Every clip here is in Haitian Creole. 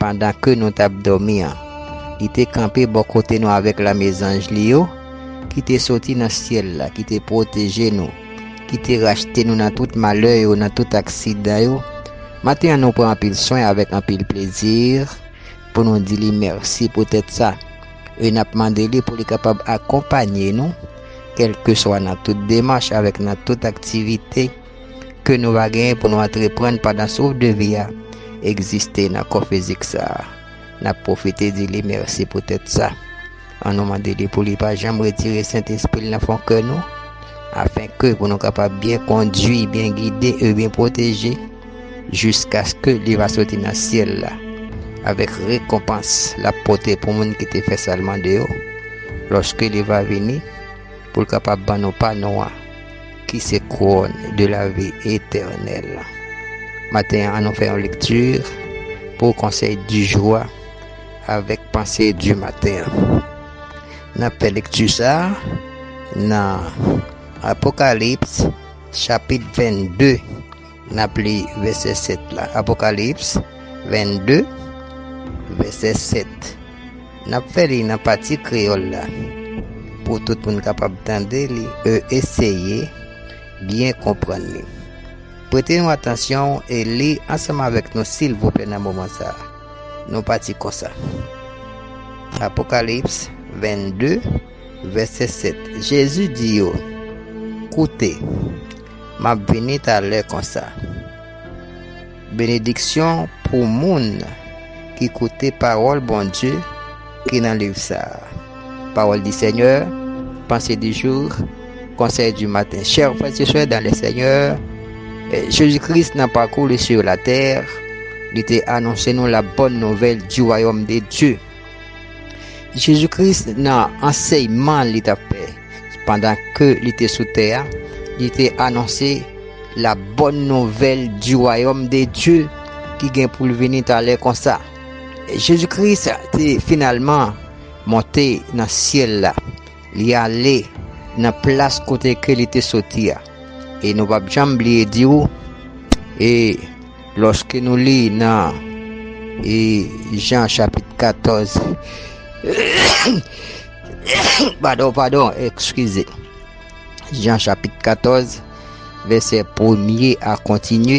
pandan ke nou t ap dòmi an, li te kanpe bò kote nou avèk lame zanj li yo, ki te soti nan syèl la, ki te pwoteje nou, ki te rachte nou nan tout malè yo, nan tout aksidan yo. Maten an nou pran anpil swen avèk anpil plezi pou nou di li mèsi poutèt sa, e n ap mande li pou li kapab akonpanye nou kèlkeswa nan tout demach avèk nan tout aktivite, ke nou va genyen pou nou antreprann pandan souf de vi a egziste nan kò fizik sa a. N ap pwofite di li mèsi poutèt sa. An nou mande li pou li pa janm retire Sentespri l nan fon kè nou, afenke pou nou kapab byen kondui, byen gide e byen pwoteje jiskaske li va soti nan syèl la avèk rekonpans l ap pote pou moun ki te fè sa l mande yo, lòske li va vini pou l kapab ban nou pa nou an. ki se kouwòn de lavi etènèl. Maten an nou fè yon lekti pou konsèy di jou a avèk panse di maten an. N ap fè lekti sa nan Apokalips chapit 22. N ap li vèsè 7 la, Apokalips 22, vèsè 7. N ap fè li nan pati kreyòl la pou tout moun kapab tande li e eseye byen konprann li. Prete nou atansyon e li ansanm avèk nou silvouplè nan moman sa a. Nou pati konsa. Apokalips 22, vèsè 7, Jezi di yo, Koute! M ap vini talè konsa. Benediksyon pou moun ki koute pawòl Bondye ki nan liv sa. Parole du Seigneur, Pensée du jour, Conseil du matin. Chers frères et sœurs dans le Seigneur, eh, Jésus-Christ nan parcours li sur la terre, li te anonse nou la bonne nouvelle du royaume de Dieu. Jezi Kris nan ansèyman li t ap fè pandan ke li te sou tè a, li te anonse la bòn nouvèl di wayòm de Dye ki gen pou l vini talè konsa. Jezi Kris te finalman monte nan syèl la, li ale nan plas kote ke li te soti a. E nou p ap janm bliye di ou, e. Lòske nou li nan I Jan chapit 14 padon padon ekskize Jan chapit 14 vèsè premye a kontinye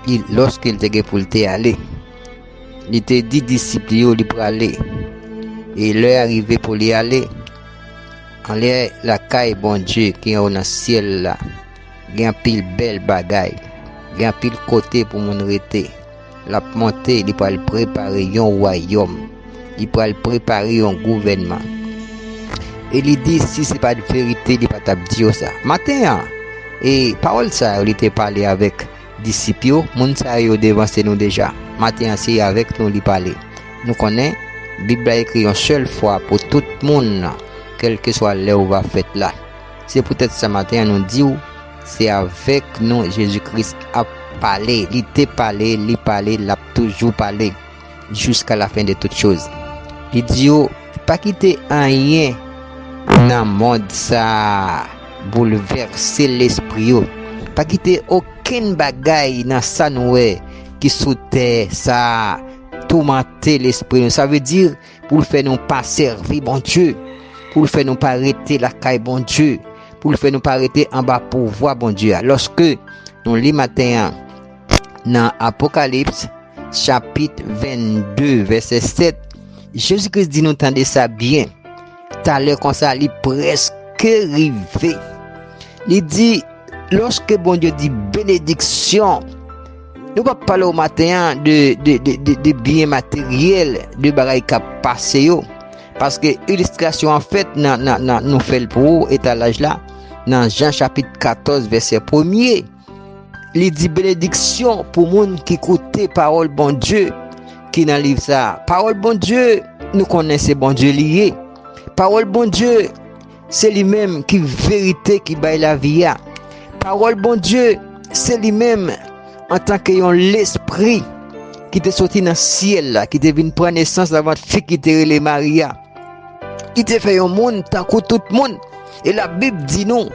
li lòske l te gen pou l te ale li te di disip li yo li prale e lè a rive pou li ale anlè lakay Bondye ki anwo nan syèl la. Gen anpil bèl bagay. Gen anpil kote pou moun rete. L ap monte, li pral prepare yon wayòm. Li pral prepare yon gouvènman. E li di, si se pa t verite, li pa t ap di yo sa. Maten an, e pawòl sa yo li te pale avèk disip yo, moun sa yo devanse nou deja. Maten an, se avèk nou li pale. Nou konnen, Bib la ekri yon sèl fwa pou tout moun, kèlkeswa lè ou va fèt la. Se poutèt sa maten an nou di w, se avèk nou Jezi Kris ap pale, li te pale, li pale, l ap toujou pale, jiska lafen de tout choz. Li di yo, Pa kite anyen nan mond sa a boulvèse lespri yo, pa kite okenn bagay nan sa n wè ki sou tè sa a toumante lespri nou, sa vle di, pou l fè nou pa sèvi Bondye, pou l fè nou pa rete lakay Bondye, pou l fè nou pa rete anba pouvwa Bondye a. Lòske nou li maten an nan Apokalips chapit 22 vèsè 7, Jezi Kris di nou tande sa byen, talè konsa li prèske rive. Li di, lòske Bondye di benediksyon, Nou pa pale ou maten an de byen materyèl, de bagay kap pase yo. Paske ilistrasyon an fèt nan nou fèl pou ou etalaj la nan Jan chapit 14 vèsè premye. Li di benediksyon pou moun ki koute pawòl Bondye ki nan liv sa. Pawòl Bondye nou konnen se Bondye li ye. Pawòl Bondye Se li menm ki verite ki bay lavi a. Pawòl Bondye se li menm antanke yon lespri ki te soti nan syèl la, ki te vin pran nesans nan vant fi ki te rele Mari a, ki te fè yon moun tankou tout moun. E la Bib di nou,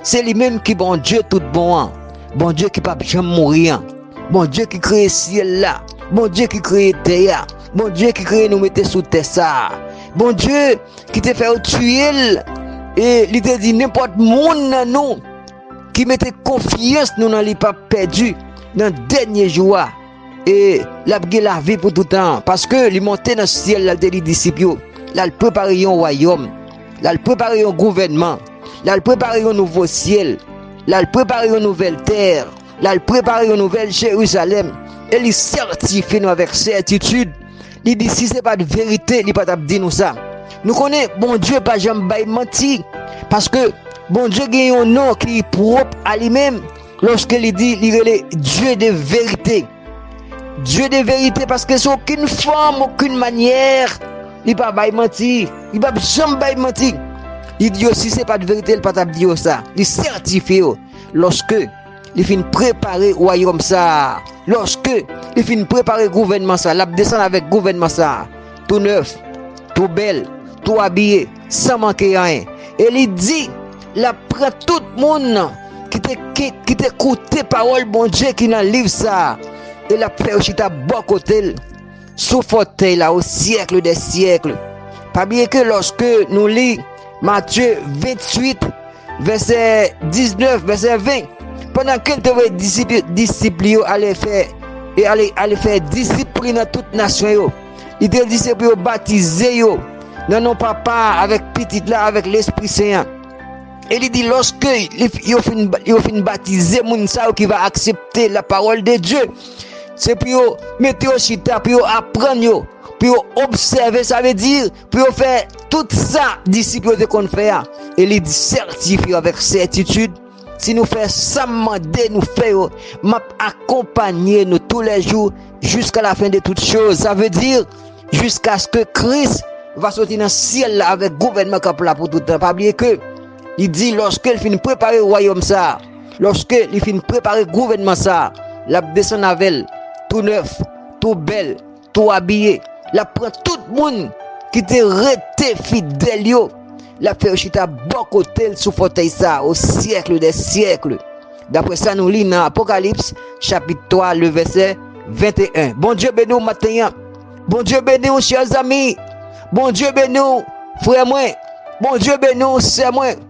se li menm ki Bondye tout bon an, Bondye ki pap janm mouri an, Bondye ki kreye syèl la, Bondye ki kreye tè a, Bondye ki kreye nou mete sou tè sa a, Bondye ki te fè yo tiye l, e li te di nenpòt moun nan nou ki mete konfyans nou nan li pap pèdi nan dènye jou a, e l ap gen lavi pou toutan an. Paske, li monte nan syèl l al te di disip yo, l al prepare yon wayòm, l al prepare yon gouvènman, l al prepare yon nouvo syèl, l al prepare yon nouvèl tè. L al prepare yon nouvèl Jerizalèm e li sètifye nou avèk sètitid. Li di, Si se pa t verite, li pa t ap di nou sa. Nou konnen Bondye pa janm bay manti, paske Bondye gen yon non ki pwòp a li menm lòske li di li rele Dye de verite. Dye de verite paske sou okenn fòm, okenn manyè, li pa bay manti. Li pa janm bay manti. Li di yo si se pa t verite, li pa t ap di yo sa. Li sètifye yo. Lòske Li fin prepare Wayòm sa a, lòske Li fin prepare gouvènman sa a, L ap desann avèk gouvènman sa a, tou nèf, tou bèl, tou abiye, san manke anyen. E Li di L ap pran tout moun ki te koute pawòl Bondye ki nan liv sa a, e L ap fè yo chita bò kote L. sou fòtèy la o syèkle dè syèkle. Pa bliye ke lòske nou li Matye 28, vèsè 19, vèsè 20, pandan ke l te voye disip li yo ale fè, e ale fè disip pou li nan tout nasyon yo, li te di se pou yo batize yo nan non Papa a, avèk Pitit la, avèk Lespri Sen an. E li di lòske yo fin batize moun sa yo ki va aksepte lapawòl de Dye, Se pou yo mete yo chita, pou yo aprann yo, pou yo obsève, sa vle di, pou yo fè tout sa disip yo te konn fè a. E li sètifye avèk sètitid, si nou fè sa m mande nou fè yo, m ap akonpanye nou tou lè jou jiska lafen de tout choz. Sa vle di, jiskaske Kris va soti nan syèl la avèk gouvènman k ap la pou toutan. Pa bliye ke li di lòske l fin prepare wayòm sa a, Lòske li fin prepare gouvènman sa a, l ap desann avè l tou nèf, tou bèl, tou abiye. L ap pran tout moun ki te rete fidèl yo, l ap fè yo chita bò kote l sou fòtèy sa a osyèkle dè syèkle, dapre sa nou li nan Apokalips chapit 3, le vèsè 21. Bondye beni w maten an. Bondye beni w chè zami. Bondye beni w frè mwen. Bondye beni w sè mwen.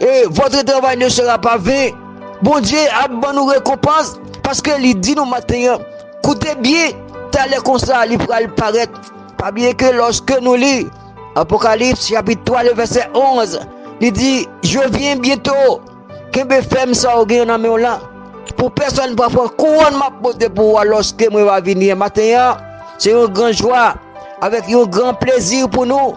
e votre travail ne sera pas vain Bondye ap ban nou rekonpans paske li di nou maten an koute byen talè konsa li pral parèt pa bliye ke loske nou li Apocalypse chapitre 3 le verset 11 li di je viens bientôt kenbe fèm sa ou gen nan menw lan pou pèsòn pa pran kouwòn map pote pou ou loske mwen va vini maten an se yon gran jwa avèk yon gran plezi pou nou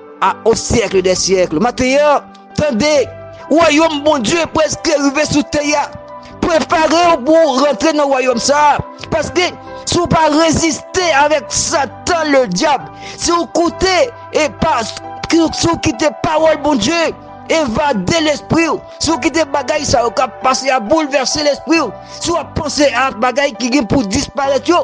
A o syèkle dè syèkle. Mateyò, tande! Wayòm Bondye prèske rive sou tè a. Prepare w pou w rantre nan wayòm sa a. Paske, si w pa reziste avèk Satan Ledyab, si w koute e pa, si w kite pawòl Bondye evade lespri w, si w kite bagay sa yo k ap pase a boulvèse lespri w, si w ap panse ak bagay ki gen pou disparèt yo,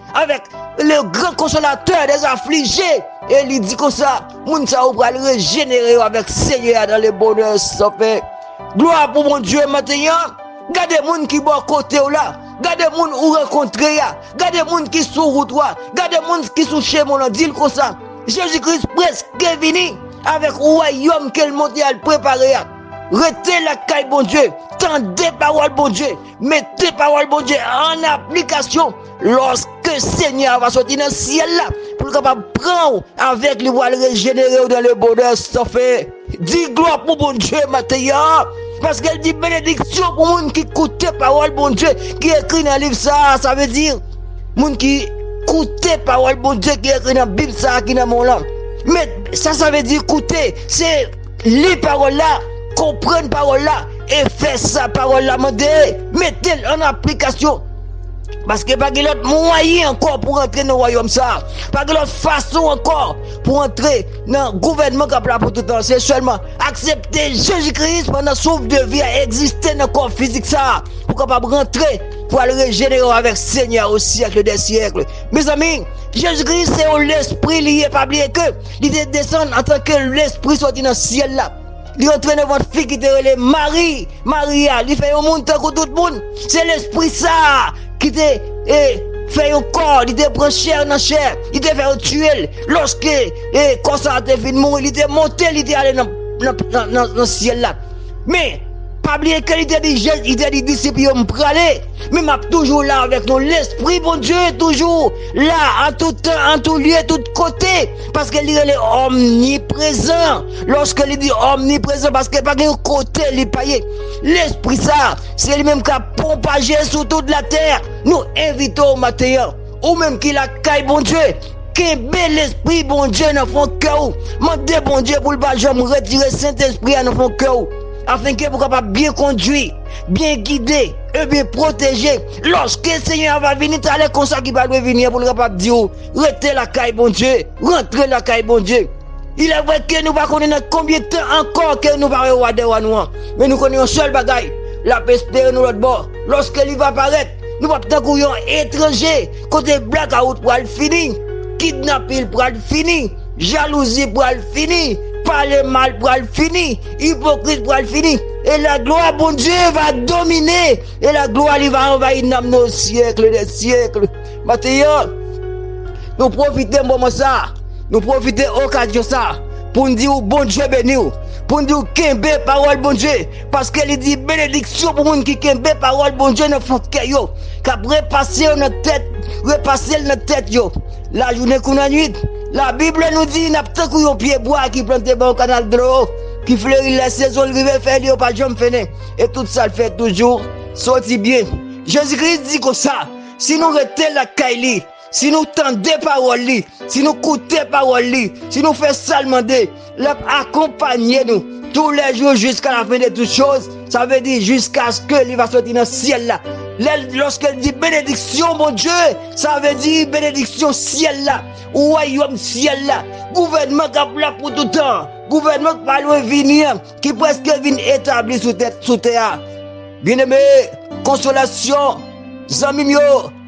Avèk le gran konsolatè dè aflije, e li di konsa, moun sa yo pral rejenere yo avèk Senyè a dan le bonè san fen. Glwa pou Bondye maten an, gade moun ki bò kote w la, gade moun ou rankontre a, gade moun ki sou wout ou a, gade moun ki sou chemen w lan, di l konsa, Jezi Kris preske vini avèk wayòm ke l monte al prepare a. Rete lakay Bondye, tande pawòl Bondye, mete pawòl Bondye an aplikasyon. Lòske Senyè a va sòti nan syèl la, pou l kapab pran w avèk li pou al rejenere w nan le bonè san fen. Di glwa pou Bondye maten an, paske l di benediksyon pou moun ki koute pawòl Bondye ki ekri nan liv sa a, sa vle di, moun ki koute pawòl Bondye ki ekri nan bib sa a ki nan men w lan. Men, sa sa vle di koute, se. Li Pawòl la, konprann Pawòl la e fè sa Pawòl la mande, mete l ann aplikasyon. Paske pa gen lòt mwayen ankò pou rantre nan wayòm sa a. Pa gen lòt fason ankò pou rantre nan gouvènman k ap la pou tout tan. Se sèlman aksepte Jezi Kris pandan souf de vi a egziste nan kò fizik sa a pou w kapab rantre pou al rejenere w avèk Senyè a o syèkle dè syèkle. Mezanmi, Jezi Kris se yon Lespri li ye, pa bliye ke Li te desann antanke lespri soti nan syèl la. Li antre nan vant fi ki te rele Mari. Mari a, li fè yon moun tankou tout moun. Se lespri sa a ki te e, fè yon kò, li te pran chè nan chè, li te fè yo tiye l. Lòske e, kò sa a te fin mouri, li te monte, li te ale nan, nan, nan, nan syèl la. Men. Pa bliye ke li te di Jezi, li te di disip li yo, M prale, men m ap toujou la avèk nou. Lespri Bondye toujou la an tout tan, an tout lye, tout kote, paske li rele omniprezan. Lòske li di omniprezan, paske pa gen yon kote li pa ye. Lespri sa, se li menm k ap pwopaje sou tout latè. Nou envite w maten an. Ou menm ki lakay Bondye, kenbe Lespri Bondye nan fon kè ou. Mande Bondye pou l pa janm retire Sentespri a nan fon kè ou, afenke pou kapab byen kondui, byen gide, e byen pwoteje, lòske Senyè a va vini talè konsa ki pa lwen vini an, pou l kapab di ou, Rete lakay Bondye, rantre lakay Bondye. Ilèvre ke nou pa konnen nan konbyen tan ankò ke nou va wè Wa dè Wa nou an, men nou konnen yon sèl bagay, l ap espere nou lòtbò, lòske li va parèt. Nou pap tankou yon etranje. Kote blakawout pral fini. Kidnapil pral fini. Jalouzi pral fini. Pale mal pral fini. Ipokrit pral fini. E laglwa Bondye va domine. E laglwa li va anvayi nanm nou osyèkle dè syèkle. Maten an, nou pwofite moman sa a. Nou pwofite okazyon sa a. Poun di ou Bondye beni ou. Poun di ou kenbe pawòl Bondye. Paske li di, Benediksyon pou moun ki kenbe pawòl Bondye nan fon kè yo, k ap repase yo nan tèt, repase l nan tèt yo, lajounen kou nannuit. Labib la nou di, N ap tankou yon pyebwa ki plante bò yon kanal dlo, ki fleri lè sezon l rive, fèy li yo pa janm fennen, e tout sa l fè toujou soti byen. Jezi Kris di konsa, si nou rete lakay li, Si nou tande pawòl li, si nou koute pawòl li, si nou fè sa l mande, l ap akonpanye nou tou lè jou jiska lafen de tout choz, sa vle di jiskaske li va soti nan syèl la. Lè l, lòske l di benediksyon Bondye, sa vle di benediksyon syèl la, wayòm syèl la, gouvènman k ap la pou toutan an, gouvènman k pa lwen vini an, ki prèske vin etabli sou tè, sou tè a. Byeneme, konsolasyon, zanmi m yo!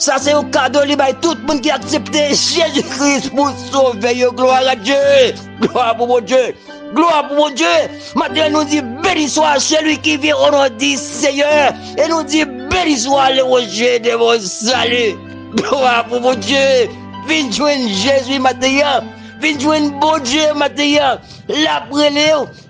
Sa se yon kado li bay tout moun ki aksepte Jezi Kris pou sovè yo glwa a Dye! Glwa pou Bondye! Glwa pou Bondye! Maten nou di beni swa seli ki vyen o non di Seyè e nou di beni swa le woje de mon sali! Glwa pou Bondye! Vin jwenn Jezi maten an! Vin jwenn Bondye maten an! Lap rele w!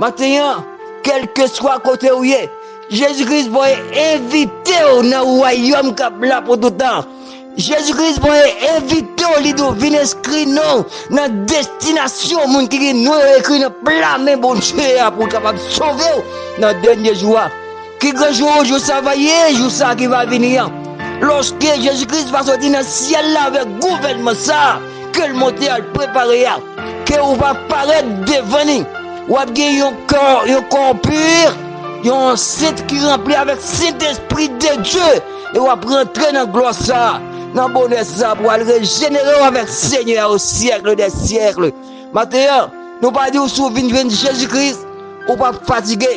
Maten an, kèlkeswa kote ou ye, Jezi Kris voye envite w nan wayòm k ap la pou toutan. Jezi Kris voye envite w lide w vin enskri non w nan destinasyon moun ki gen non yo ekri nan pla men Bondye a pou l kapab sove w nan dènye jou a. Ki gran jou, jou sa va ye, jou sa ki va vini an, lòske Jezi Kris va sòti nan syèl la avèk gouvènman sa a ke l monte al prepare a, ke ou va parèt devan ni. Ou ap gen yon kò, yon kò pur, yon ansent ki ranpli avèk Sentespri de Dye, e ou ap rantre nan glwa sa a, nan bonè sa a, pou al rejenere ou avèk Senyè a o syèkle dè syèkle. Maten an, nou pa di ou si ou vin jwenn Jezi Kris, ou p ap fatige.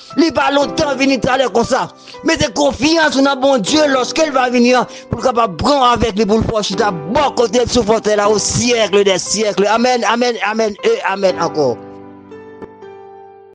Li pa lontan vini talè konsa. Mete konfyans ou nan Bondye lòske l va vini an pou l kapab pran w avèk li pou l fè w chita bò kote l sou fotèy la o syèkle dè syèkle. Amèn, amèn, amèn e amèn ankò.